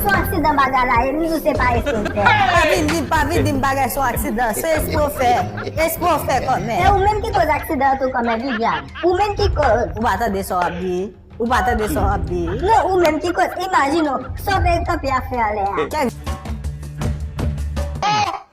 Son aksidan bagay la ye m di w se pa espre w fè. Pa vin di pa vin dim bagay son aksidan se espre w fè espre w fè kòmè. Se ou menm ki koz aksidan an tou kòmè Viviane ou menm ki koz. Ou pa tande sa w ap di ou pa tande sa w ap di. Non ou menm ki koz imajine w sa w te kanpe ap fè anlè a.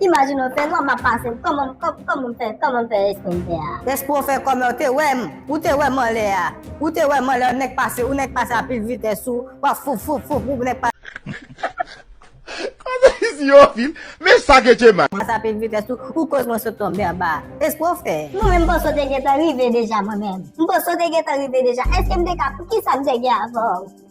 Imagine ou fè lwa map pase l koman m fè koman m fè espre m fè a. Espre w fè kòmè w te wè m ou te wè m anlè a ou te wè m anlè ou nèk pase ou nèk pase a pil vitès ou wap fouf fouf fouf ou nèk pase a pil vitès ou ou koz mwen sot tonbe anba a espre w fè. Mwen menm m panse w te gentan rive deja mwen menm m panse w te gentan rive deja èske m te ka poukisa m te gen avè w.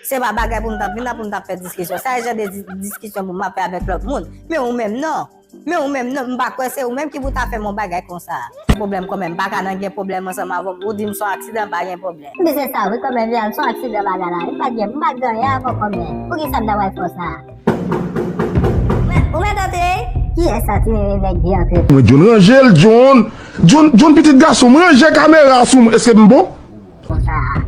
Se pa bagay pou m t ap vin la pou m t ap fè diskisyon. Sa e jan de diskisyon pou m ap fè avèk lòt moun. Men ou menm non. Men ou menm non. M pa kwè se ou menm ki pou ta fè m yon bagay konsa. Se pwoblèm kòmè. M pa ka nan gen pwoblèm ansanm avè w. Ou di m s on aksidan m pa gen pwoblèm. M di se sa wi kòmè Vianne. S on aksidan bagay la ye. M pa t gen. M pa t gen anyen avè w kòmè. Poukisa m ta pral fè w sa. Mwen, ou mèt antre? Kiyès sa ti nene nèg di antre? Mwen John ranje l John. John, John pitit gason m ranje kamera a sou mwen. Eske m bon? Konsa a.